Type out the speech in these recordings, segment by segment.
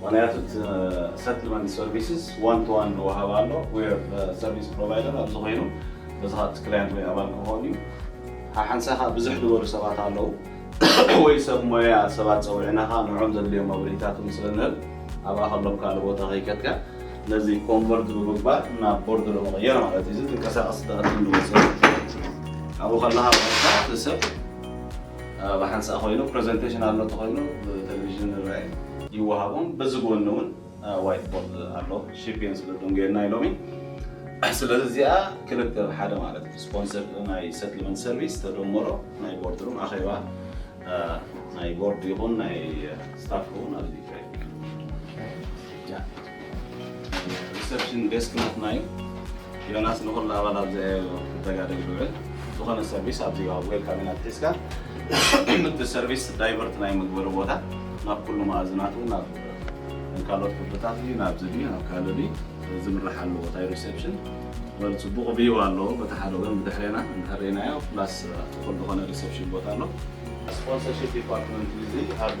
ምኽንያቱ እቲ ሰትልመንት ሰርቪስስ ዋን ቱ ዋን ዝወሃብ ኣሎ ዌር ሰርቪስ ፕሮቫይደር ኣብዚ ኮይኑ በዚ ካብቲ ክላየንት ወይ ኣባል ክኸውን እዩ ሓሓንሳእ ከዓ ብዝሕ ዝበሉ ሰባት ኣለዉ ወይ ሰብ ሞያ ሰባት ፀዊዕና ከዓ ንዖም ዘድልዮም መብርሂታት ስለ ንህብ ኣብኣ ከሎም ካልእ ቦታ ከይከድካ ነዚ ኮንቨርት ብምግባር ናብ ቦርድ ንምቕየር ማለት እዩ እዚ ትንቀሳቐስ ተቐዲም ንወሰድ ኣብኡ ከለካ ሰብ ብሓንሳእ ኮይኑ ፕረዘንተሽን ኣሎ ተኾይኑ ብተለቪዥን ዝረኣ እዩ። ይወሃቦም በዚ ጎኒ ውን ዋይት ቦርድ ኣሎ ሽፒን ስለ ደንጎየና ኢሎም እዩ ስለዚ እዚኣ ክልተ ብ ሓደ ማለት እዩ ስፖንሰር ናይ ሰትልመንት ሰርቪስ ተደመሮ ናይ ቦርድ ሩም ኣኼባ ናይ ቦርድ ይኹን ናይ ስታፍ ሩም ኣብዚ ይካየድ እዩ። ሪሰፕሽን ዴስክ ናትና እዩ። ዮናስ ንኹሉ ኣባላት ዘያዮ ክተጋደል ዝውዕል ዝኾነ ሰርቪስ ኣብዚ ኣብ ዌልካም ኢና ትሒዝካ እቲ ሰርቪስ ዳይቨርት ናይ ምግበሪ ቦታ ናብ ኩሉ መኣዝናቱ ናብ ካልኦት ክፍልታት እዩ ናብ ዝቢ ናብ ካልእ ድዩ ዝምራሕ ኣሎ ቦታ ሪሴፕሽን ወል ፅቡቕ ብዩ ኣሎ በቲ ሓደ ወገን ብድሕሬና እንተሪእናዮ ፕላስ ኣብቲ ኩሉ ዝኾነ ሪሴፕሽን ቦታ ኣሎ ስፖንሰርሽፕ ዲፓርትመንት እዚ ኣብ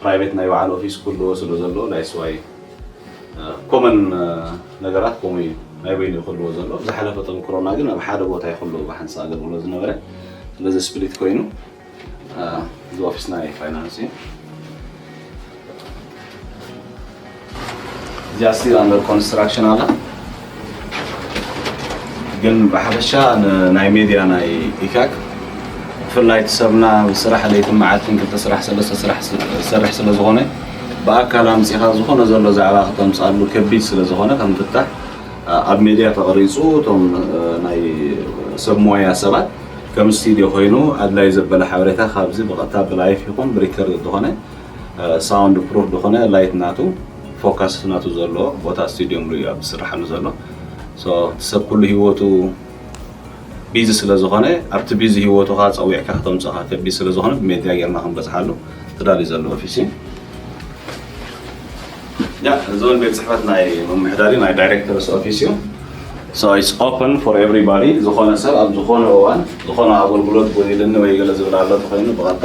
ፕራይቬት ናይ በዓል ኦፊስ ክህልዎ ስለ ዘለዎ ናይ ስዋይ ኮመን ነገራት ከምኡ እዩ ናይ በይኑ እዩ ክህልዎ ዘሎ ዝሓለፈ ተምክሮና ግን ኣብ ሓደ ቦታ ይክልዎ ብሓንሳ ኣገልግሎት ዝነበረ ስለዚ ስፕሊት ኮይኑ እዚ ኦፊስ ናይ ፋይናንስ እዩ እዚኣ ሲ ኣንደር ኮንስትራክሽን ኣላ ግን ብሓፈሻ ናይ ሜድያ ናይ ኢካክ ብፍላይ እቲ ሰብና ብስራሕ ለይቲ መዓልትን ክልተ ስራሕ ሰለስተ ስራሕ ዝሰርሕ ስለ ዝኾነ ብኣካል ኣምፂኻ ዝኾነ ዘሎ ዛዕባ ክተምፃሉ ከቢድ ስለ ዝኾነ ከም ፍታሕ ኣብ ሜድያ ተቐሪፁ እቶም ናይ ሰብ ሞያ ሰባት ከም ስቱድዮ ኮይኑ ኣድላይ ዘበለ ሓበሬታ ካብዚ ብቐጥታ ብላይፍ ይኹን ብሪከርድ ዝኾነ ሳውንድ ፕሩፍ ድኮነ ላይት ናቱ ፎካስ ናቱ ዘሎ ቦታ ስቱድዮ ምሉ እዩ ዝስራሓሉ ዘሎ ሶ እቲ ሰብ ኩሉ ሂወቱ ቢዚ ስለ ዝኾነ ኣብቲ ቢዚ ሂወቱካ ጸዊዕካ ከተምጽኻ ከቢድ ስለ ዝኾነ ብሜድያ ጌርና ክንበጽሓሉ ተዳልዩ ዘሎ ኦፊስ እዩ ያ እዚ እውን ቤት ጽሕፈት ናይ ምምሕዳሪ ናይ ዳይሬክተርስ ኦፊስ እዩ So it's open for everybody ዝኾነ ሰብ ኣብ ዝኾነ እዋን ዝኾነ ኣገልግሎት ጎዲልኒ ወይ ገለ ዝብል ኣሎ ተኮይኑ ብቐጥታ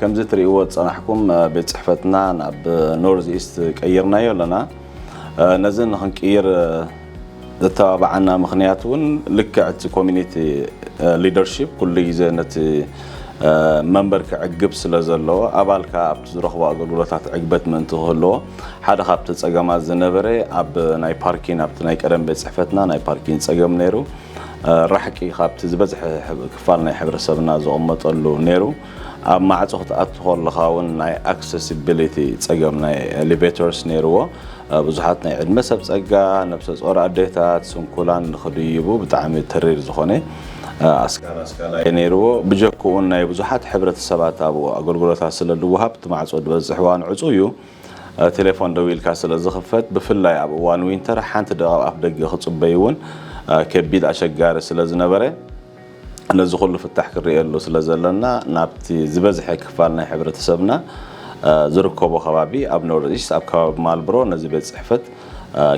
ከምዚ ትሪእዎ ዝፀናሕኩም ቤት ፅሕፈትና ናብ ኖርዝ ኢስት ቀይርናዮ ኣለና። ነዚ ንክንቅይር ዘተባብዓና ምኽንያት እውን ልክዕ እቲ ኮሚኒቲ ሊደርሺፕ ኩሉ ግዜ ነቲ መንበር ክዕግብ ስለ ዘለዎ ኣባል ከዓ ኣብቲ ዝረኽቦ ኣገልግሎታት ዕግበት ምእንቲ ክህልዎ ሓደ ካብቲ ፀገማት ዝነበረ ኣብ ናይ ፓርኪን ኣብቲ ናይ ቀደም ቤት ፅሕፈትና ናይ ፓርኪን ፀገም ነይሩ። ራሕቂ ካብቲ ዝበዝሐ ክፋል ናይ ሕብረሰብና ዝቕመጠሉ ነይሩ። ኣብ ማዕጾ ክትኣቱ ከለኻ እውን ናይ ኣክሰሲቢሊቲ ጸገም ናይ ኤሊቬተርስ ነይርዎ። ብዙሓት ናይ ዕድመ ሰብ ጸጋ፣ ነብሰ ጾር ኣዴታት፣ ስንኩላን ንኽድይቡ ብጣዕሚ ተሪር ዝኾነ ኣስጋሪ ኣስጋላ እዩ ነይርዎ። ብጀክኡ ናይ ብዙሓት ሕብረተሰባት ኣብኡ ኣገልግሎታት ስለ ዝወሃብ እቲ ማዕጾ ዝበዝሕ እዋን ዕጹው እዩ። ቴሌፎን ደዊልካ ስለ ዝኽፈት ብፍላይ ኣብ እዋን ዊንተር ሓንቲ ዶ ኣብ ኣፍደገ ክጽበዩ እውን ከቢድ ኣሸጋሪ ስለ ዝነበረ ነዚ ኩሉ ፍታሕ ክንርእየሉ ስለ ዘለና ናብቲ ዝበዝሐ ክፋል ናይ ሕብረተሰብና ዝርከቦ ከባቢ ኣብ ኖርዝኢስት ኣብ ከባቢ ማልብሮ ነዚ ቤት ጽሕፈት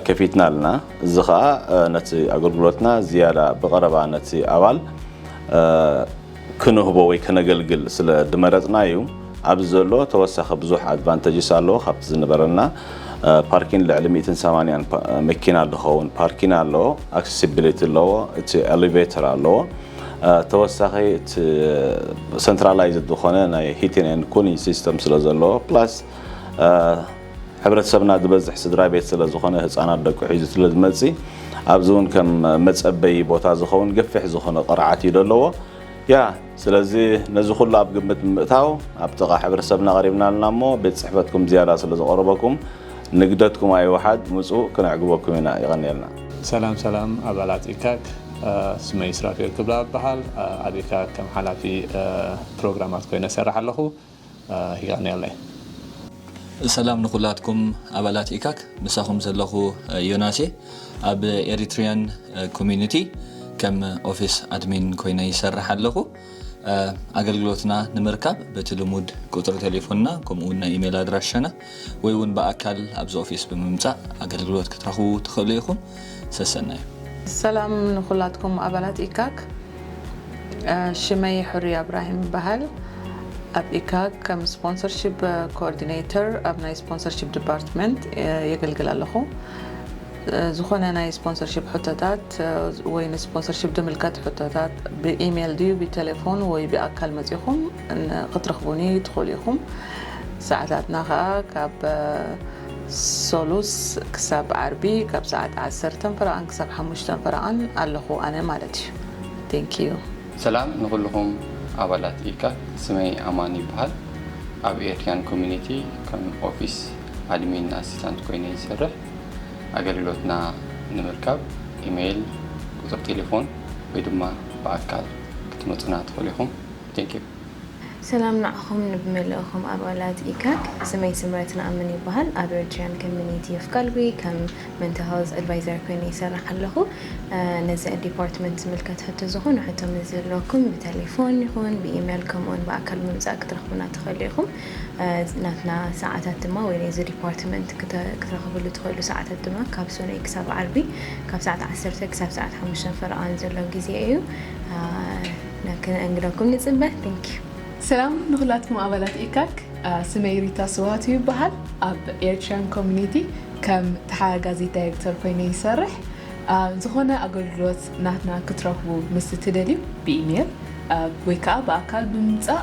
ከፊትና ኣለና እዚ ከኣ ነቲ ኣገልግሎትና ዝያዳ ብቐረባ ነቲ ኣባል ክንህቦ ወይ ከነገልግል ስለ ድመረጽና እዩ ኣብዚ ዘሎ ተወሳኺ ብዙሕ ኣድቫንተጅስ ኣለዎ ካብቲ ዝንበረና ፓርኪን ልዕሊ ሚእትን ሰማንያን መኪና ድኸውን ፓርኪን ኣለዎ ኣክሰሲቢሊቲ ኣለዎ እቲ ኤሌቬተር ኣለዎ ተወሳኺ እቲ ሰንትራላይዝ ዝኾነ ናይ ሂቲን ኤንድ ኩሊን ሲስተም ስለ ዘለዎ ፕላስ ሕብረተሰብና ዝበዝሕ ስድራቤት ስለ ዝኾነ ህጻናት ደቁ ሒዙ ስለ ዝመጽ ኣብዚ ውን ከም መጸበዪ ቦታ ዝኸውን ገፊሕ ዝኾነ ቅርዓት እዩ ደለዎ ያ ስለዚ ነዚ ኩሉ ኣብ ግምት ብምእታው ኣብ ጥቓ ሕብረተሰብና ቀሪብና ኣለና እሞ ቤት ጽሕፈትኩም ዝያዳ ስለ ዝቐረበኩም ንግደትኩም ኣይውሓድ ምጹ ክነዕግበኩም ኢና የቐንየልና። ሰላም ሰላም ኣባላት ኢካክ ስመይ ሱራፌል ክብላ እበሃል ኣብ ኢካክ ከም ሓላፊ ፕሮግራማት ኮይነ እሰርሕ ኣለኹ። ይቀንየለይ። ሰላም ንኩላትኩም ኣባላት ኢካክ ምሳኩም ዘለኩ ዮናስ እየ ኣብ ኤሪትሪያን ኮሚኒቲ ከም ኦፊስ ኣድሚን ኮይነ ይሰርሕ ኣለኩ ኣገልግሎትና ንምርካብ በቲ ልሙድ ቁጽሪ ቴሌፎንና ከምኡ ውን ናይ ኢሜል ኣድራሻና ወይ ውን ብኣካል ኣብዚ ኦፊስ ብምምጻእ ኣገልግሎት ክትረኽቡ ትኽእሉ ኢኹም። ሰሰናዩ። ሰላም ንኩላትኩም ኣባላት ኢካክ ሽመይ ሕሩይ ኣብራሂም ይበሃል ኣብ ኢካክ ከም ስፖንሰርሺፕ ኮኦርዲነይተር ኣብ ናይ ስፖንሰርሺፕ ዲፓርትመንት የገልግል ኣለኹ ዝኾነ ናይ ስፖንሰርሺፕ ሕቶታት ወይ ንስፖንሰርሺፕ ድምልከት ሕቶታት ብኢሜል ድዩ ብቴሌፎን ወይ ብኣካል መጺኹም ክትረኽቡኒ ትኽእሉ ኢኹም። ሰዓታትና ከኣ ካብ ሰሉስ ክሳብ ዓርቢ ካብ ሰዓት ዓሰርተ ፈረቓን ክሳብ ሓሙሽተ ፈረቓን ኣለኹ ኣነ ማለት እዩ። Thank you። ሰላም ንኹሉኹም ኣባላት ኢካት ስመይ ኣማን ይበሃል ኣብ ኤርትርያን ኮሚኒቲ ከም ኦፊስ ኣድሚን ኣሲታንት ኮይነ ይሰርሕ ኣገልግሎትና ንምርካብ ኢመይል ቁጽሪ ቴሌፎን ወይ ድማ ብኣካል ክትመጹና ትኽእሉ ኢኹም። Thank you። ሰላም ንዓኹም ንብመልእኹም ኣባላት ኢካክ ስመይ ስምረት ንኣምን ይባሃል ኣብ ኤሪትርያን ከምኒቲ ኦፍ ጋልጉይ ከም መንታል ሀልዝ ኣድቫይዘር ኮይነ ይሰርሕ ኣለኹ ነዚ ኣዲፓርትመንት ዝምልከት ሕቶ ዝኾነ ሕቶ ምስ ዝህልወኩም ብተሌፎን ይኹን ብኢሜል ከምኡውን ብኣካል ብምጻእ ክትረኽቡና ትኸእሉ ኢኹም ናትና ሰዓታት ድማ ወይ ነዚ ዲፓርትመንት ክትረኽብሉ ትኸእሉ ሰዓታት ድማ ካብ ሶኑይ ክሳብ ዓርቢ ካብ ሰዓት ዓሰርተ ክሳብ ሰዓት ሓሙሽተ ፈረቓን ዘሎ ግዜ እዩ ከነእንግደኩም ንጽበ thank you። ሰላም ንኹላትኩም ኣባላት ኢካክ ስመይ ሪታ ስብሃቱ ይበሃል ኣብ ኤርትርያን ኮሚኒቲ ከም ተሓጋጋዚት ዳይርክተር ኮይነ ይሰርሕ ዝኾነ ኣገልግሎት ናትና ክትረኽቡ ምስ ትደልዩ ብኢሜል ወይ ከኣ ብኣካል ብምምጻእ